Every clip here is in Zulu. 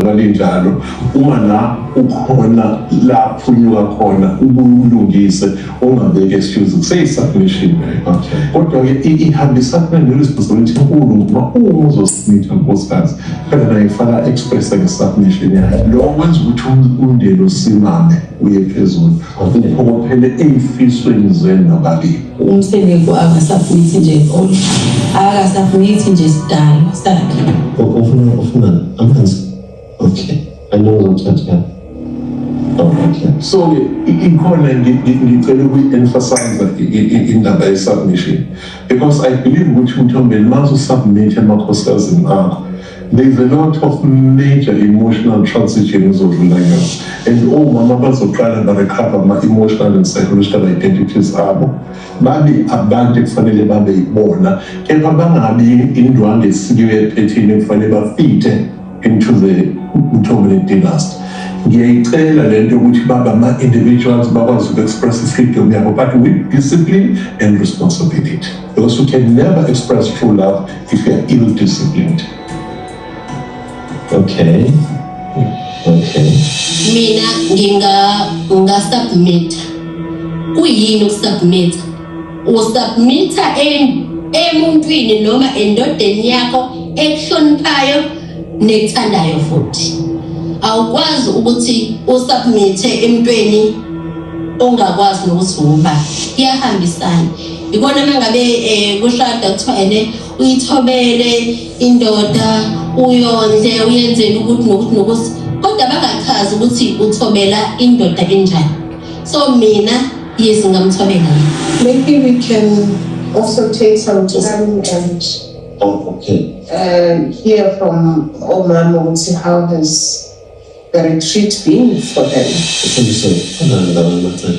Kwalinjalo uma la ukhona la phunyuka khona ubulungise ungabeki excuse kuseyisubmission kodwa ke ihambisana ne-responsibility enkulu ngoba uma uzosubmitha nkosikazi phela naye faka express nge-submission yakhe lo kwenza ukuthi umndeni usimame uye phezulu Uphokophele ey'fisweni zenu nobabili. Umseleku akasafunithi nje enkolo, akasafunithi nje sidalo sakhe. Ufuna ufuna amanzi. Okay. Alo uzothatha. Okay. So ikhona ngicela ukuyi-emphasize indaba ye-submission because I believe ukuthi mthombeni uma usu-submit emakhosazini akho There's a lot of major emotional transition ezodlula kuyona and omama bazoqala barecover ama-emotional and psychological identities abo babe abantu ekufanele babe yibona kepha bangabi indwange esiliyo ephethini ekufanele bafithe into the mthomeni dynasty ngiyayicela le nto yokuthi babe ama-individuals bakwazi uku-express i-freedom yabo but with discipline and responsibility because you can never express true love If you are ill disciplined. Okay. Okay. Mina nginga nginga submit. Kuyini ukusubmit? Usubmita em emuntwini noma endodeni yakho ekuhloniphayo nekuthandayo futhi. Awukwazi ukuthi usubmite emntweni ongakwazi nokuthi uba kuyahambisana. Ikona mangabe eh kushada kuthiwa ene uyithobele indoda uyondle uyenzele ukuthi nokuthi nokuthi kodwa bangachazi ukuthi uthobela indoda enjani. So mina yes ngamthobela. Maybe we can also take some time and Oh, okay. Uh, hear from Omama ukuthi how has the retreat been for them. Ufundiswe khona ngabantu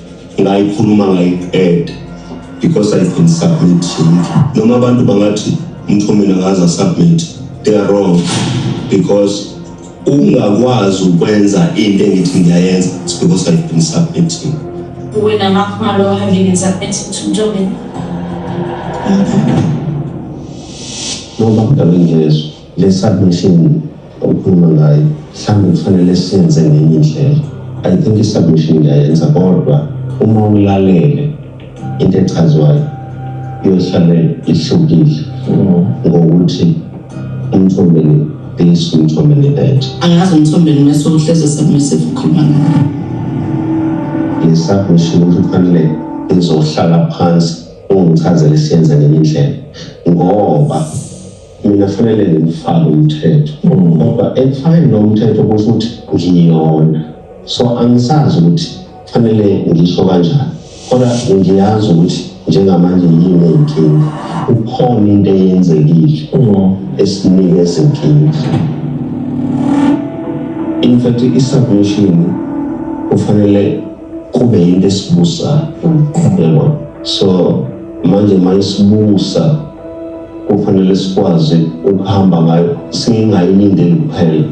ngayikhuluma ngayiqeda because I've been submitting noma abantu bangathi umntu mina ngaza submit they are wrong because ungakwazi ukwenza into engithi ngiyayenza it's because I've been submitting wena ngakho ngalo having been submitting to Ntombi ngoba kudala ngezwe Le submission okhuluma ngayo mhlawumbe kufanele senze ngenye indlela. I think i-submission ngiyayenza kodwa uma ulalele into echazwayo iyohlale ihlukile ngokuthi umthombeni this umthombeni that angazi umthombeni mese uhleze submissive ukhuluma ngayo le submission ukuthi kufanele izohlala phansi ungichazele siyenze ngenye indlela ngoba Mina kufanele ngifake umthetho mm. kodwa ekufakeni lowo mthetho kusho ukuthi ngiyona so angisazi ukuthi kufanele ngisho kanjani kodwa ngiyazi ukuthi njengamanje yini inkinga ukhona into eyenzekile mm. esinike ezinkinga in fact i-submission kufanele kube yinto esibusayo mm. yabo so manje mayisibusa kufanele sikwazi ukuhamba ngayo singayilindeli kuphela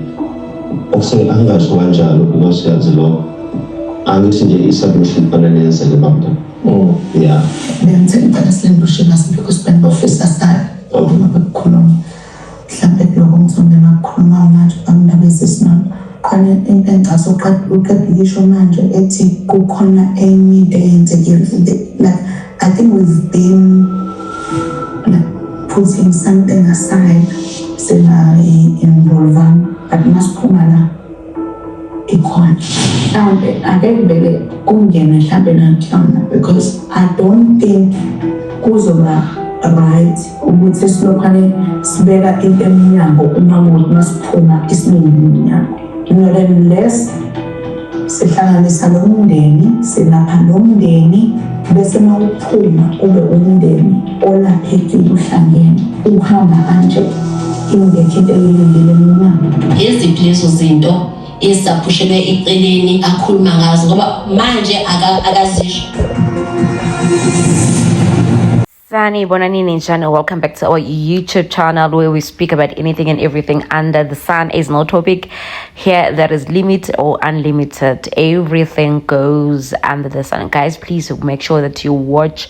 okuse angasho kanjalo because yazi lokho angithi nje i-submission kufanele yenzeke bamta mm. ya ngiyangithela ngicela silembe ushima sibikho sibani bofisa sale obuma bekukhuluma mhlawumbe kuloko mthombo engakukhuluma manje bamndaba esesimama khona into engicase uqeda ukisho manje ethi kukhona enye into eyenzekile like i think we've been like putting something aside singayi-involvanga but masiphuma la ikhona mhlawumbe ake ngibeke kungena mhlawumbe nakhona because i don't think kuzoba right ukuthi silokhane sibeka into emnyango uma kuthi masiphuma isiningi emnyango not unless sihlanganisa lo mndeni silapha lo mndeni bese uma uphuma ube umndeni Olapheki ubuhlangene uhamba kanje ingekho into eyilindele mina. Iziphi lezo zinto ezisaphushelwe eceleni akhuluma ngazo ngoba manje akazisho Sani Bonani Ninjan, welcome back to our YouTube channel where we speak about anything and everything under the sun. Is no topic here that is limit or unlimited. Everything goes under the sun. Guys, please make sure that you watch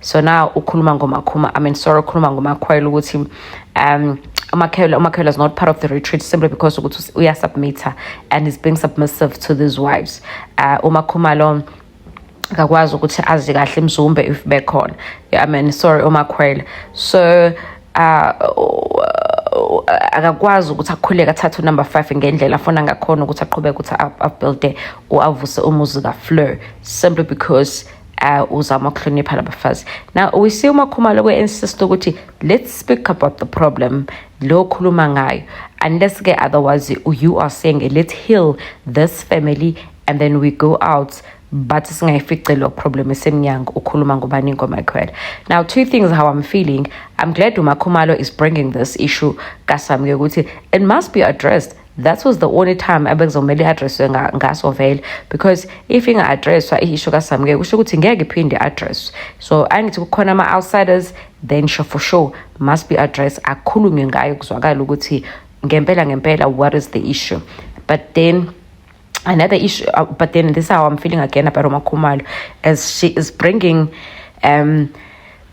so now ukhuluma ngomakhuma i mean sorry ukhuluma ngomakhwela ukuthi um umakhela umakhela is not part of the retreat simply because ukuthi uyasubmitter and is being submissive to these wives uh, umakhuma lo akakwazi ukuthi azi kahle imzumbe if bekhona i mean sorry umakhwela so uh, akakwazi ukuthi akhuleke athathe unumber five ngendlela afuna ngakhona ukuthi aqhubeke ukuthi abuilde or avuse umuzi kafleur simply because uh, uzama ukuhlonipha labafazi now we see umakhumalo kwe-insist ukuthi let's speak about the problem lo khuluma ngayo unless ke otherwise you are saying let's heal this family and then we go out but singayifice lo problem esemnyango ukhuluma ngubani ngomakhwela now two things how i'm feeling i'm glad umakhumalo is bringing this issue kasamke ukuthi it must be addressed that was the only time abekuzomele i-addresswe ngaso vele because if inga-addresswa i-isho kasamukeke kusho ukuthi ngeke iphinde i-addresswe so angithi kukhona ama-outsiders then sure for sure must be address akhulunywe ngayo kuzwakala ukuthi ngempela ngempela what is the issue but then another issue uh, but then this is how i'm feeling again about Roma Khumalo as she is bringing um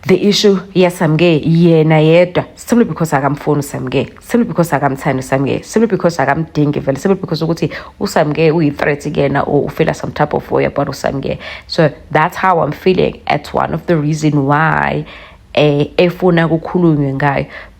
the issue yesamke yena yedwa simply because akamfuni usamke simply because akamthandi usamke simply because akamdingi vele simply because ukuthi usamke uyi-threat kuyena or ufila some type of way about usamke so that's how i'm feeling at one of the reason why eh efuna kukhulunywe ngayo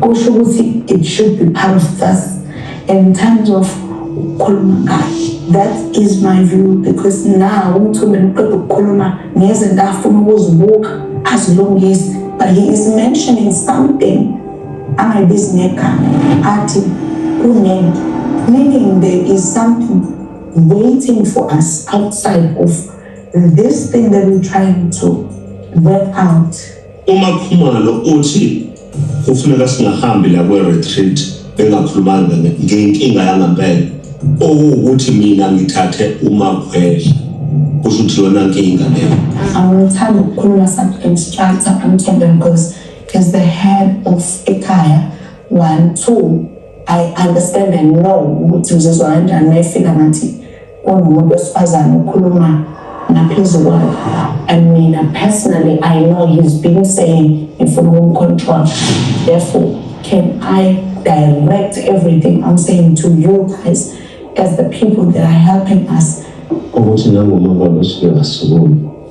kusho ukuthi it should be part of us in terms of ukukhuluma ngayo that is my view because na umthumbe uqeda ukukhuluma ngezinto afuna ukuzibuka azilungise but he is mentioning something angayibizi ngegama athi kunento meaning there is something waiting for us outside of this thing that we're trying to work out UMakhumalo uthi kufuneka singahambi la kwe-retreat bengakhulumanga ngenkinga yangempela okuwukuthi mina ngithathe umakhwela kusho ukuthi yona nkinga leyo angithanda ukukhuluma some instructor amthembe because is the head of ekhaya one two i understand and know ukuthi uzizwa kanjani mayefika ngathi kunomuntu wesifazane ukhuluma ngaphezu kwakhe and mina personally i know he's been saying ngifuna ukumcontrol therefore can i direct everything i'm saying to you guys as the people that are helping us ukuthi nangoma babasuke basukumi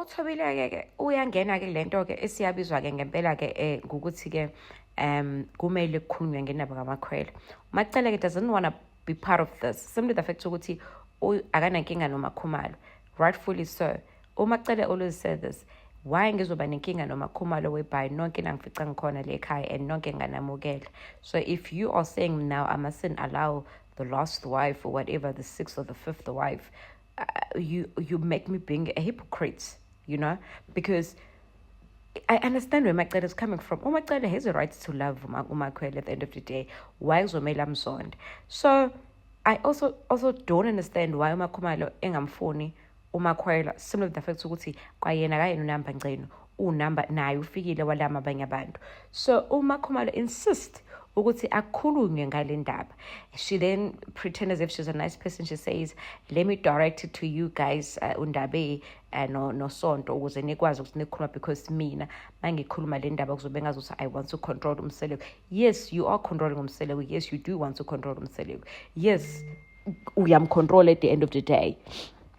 uthobile-ke ke uyangena-ke le nto-ke esiyabizwa-ke ngempela-ke um eh, ngokuthi-ke um kumele kukhulunywe ngendaba kamakhwela umacele-ke doesn't wanna be part of this simply the fact ukuthi akanankinga nomakhumalo rightfully so umacele always said this why ngizoba nenkinga nomakhumalo webhayi nonke nangifica ngikhona le ekhaya and nonke nganamukela so if you are saying now i mustn't allow the last wife or whatever the sixth or the fifth wife uh, you you make me being a hypocrite you know because I understand where Macele is coming from. Oh, Macele has a right to love Umakwele at the end of the day. Why is Omela Msond? So, I also also don't understand why Umakhumalo engamfuni Umakwele similar to the fact ukuthi kwayena kayena unamba ngceno unumber naye ufikile walama abanye abantu so uma khumalo insist ukuthi akhulunywe ngale ndaba she then pretend as if she's a nice person she says let me direct it to you guys uh, undabe uh, no nosonto ukuze nikwazi ukuthi nikhuluma because mina mangikhuluma le ndaba kuzobe ngazothi i want to control umseleku yes you are controlling umseleku yes you do want to control umseleku yes uyamcontrol at the end of the day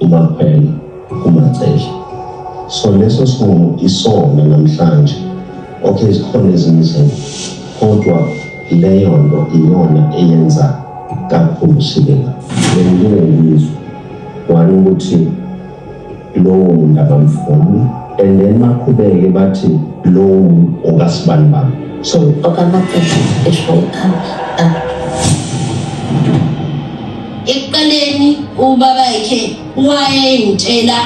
uMaphela uMacele so leso sinqumo isona namhlanje okay zikhona ezinye izinto kodwa leyo nto iyona eyenza kakhulu silela benginengizwe wani ukuthi lowo muntu abamfuni and then baqhubeke bathi lowo muntu okasibani bami so okamaphela esho ikhaya Ekuqaleni ubaba yakhe wayengitshela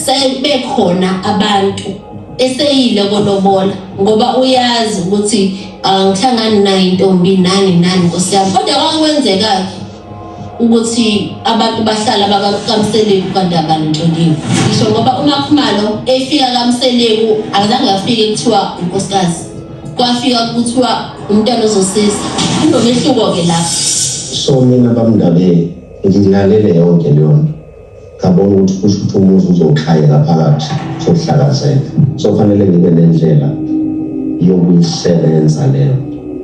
sebekhona abantu eseyile kolobola ngoba uyazi ukuthi angihlangani ah, nayo intombi nani nani nkosi yami kodwa kwakwenzeka-ke ukuthi abantu bahlala bakakamseleku kanti abanitsholiwe ngisho ngoba umakhumalo efika kamseleku akazange afike kuthiwa unkosikazi kwafika kuthiwa umntwana ozosiza kunomehluko-ke lapho so mina bamndabeni ngilalele yonke leyo nto ngabona ukuthi kusho ukuthi umuzi uzokhayeka phakathi sokuhlakazeka so kufanele ngibe nendlela yokuyisebenza leyo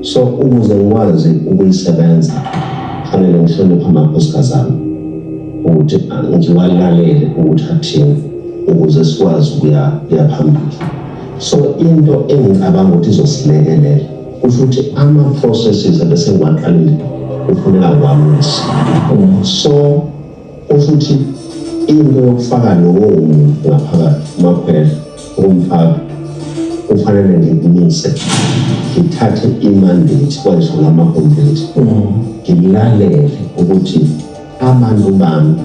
so ukuze ngikwazi ukuyisebenza kufanele ngihloniphe amakhosikazi ami ukuthi ngiwalalele ukuthi athini ukuze sikwazi ukuya phambili So into engicabanga ukuthi izosilekelela kusho ukuthi ama-processes abese ngiwaqalile kufuneka ngiwamisa so kusho ukuthi into yokufaka lowo muntu ngaphakathi umakhwela umfaka kufanele ngikumise ngithathe imandate kwayisho lamakompleti ngilalele ukuthi amandla ubami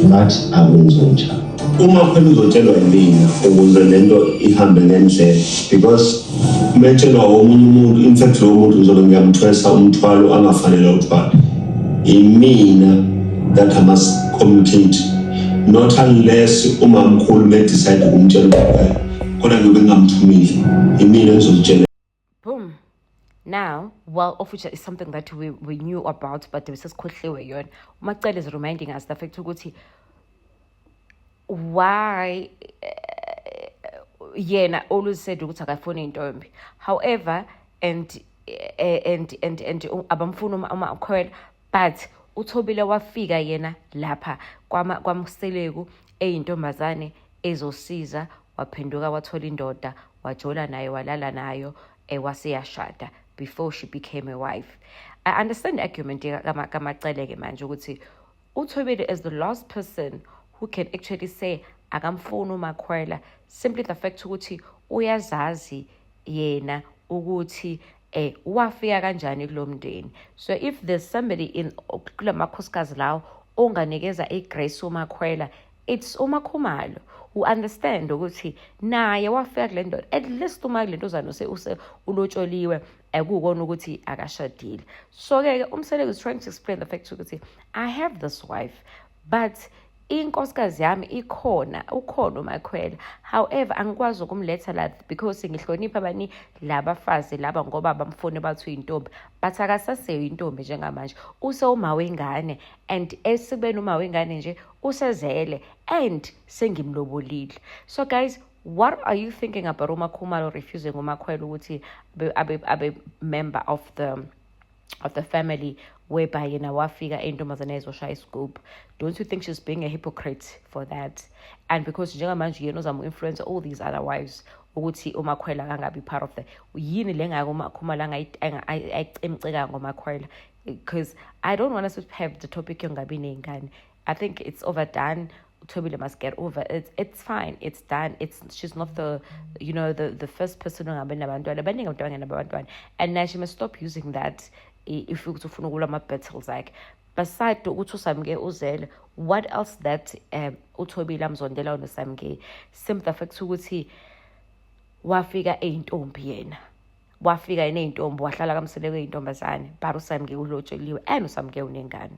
but akunzotsha uma phela uzotshelwa yimina ukuze le nto ihambe ngendlela because uma etshelwa omunye umuntu in fact lowo muntu ngizobe ngiyamthwesa umthwalo angafanele uthwale imina that i must communicate not unless umamkhulu bedecide ukumtshela ukuba khona ngiyobe ngingamthumile imina engizolitshela boom now well of which is something that we, we knew about but besesikhohliwe yona umacele is reminding us the fact ukuthi why eh, yena always said ukuthi akafuni intombi however and eh, and and and abamfuni uma ukhwela but uthobile wafika yena lapha kwamseleku eyintombazane ezosiza waphenduka wathola indoda wajola naye walala nayo eh, waseyashada before she became a wife i understand argument kamaceleke manje ukuthi uthobile is the last person who can actually say akamfuni umakhwela simply the fact ukuthi uyazazi yena ukuthi eh wafika kanjani kulomndeni so if there's somebody in kulamakhosikazi lawo onganikeza igrace umakhwela it's umakhumalo u understand ukuthi naye wafika kule ndoda at least uma kule ntozana use use ulotsholiwe akukona ukuthi akashadile so ke umseleku is trying to explain the fact ukuthi i have this wife but inkosikazi yami ikhona ukhona umakhwela however angikwazi ukumletha la because ngihlonipha abani labafazi laba ngoba bamfuni bathi uyintombi but akasaseyo intombi njengamanje usewuma wengane and esibeni uma wengane nje usezele and sengimlobolile so guys what are you thinking about umakhumalo refusing umakhwela ukuthi abe, abe, abe member of the of the family whereby you know wafika intombazane ezoshaya iscoop don't you think she's being a hypocrite for that and because njengamanje yena uzama influence all these other wives ukuthi umakhwela kangabi part of the yini le ngako umakhumala ayicemceka ngomakhwela because i don't want us to have the topic yongabi ney'ngane I think it's overdone. Tobile must get over it. It's fine. It's done. It's she's not the you know the the first person and now she must stop using that if you to follow my battles like beside to uthi usamke uzele what else that um uthobile amzondela wona samke same the fact ukuthi wafika eyintombi yena wafika yena eyintombi wahlala kamseleko eyintombazane but usamke ulotsheliwe and usamke unengane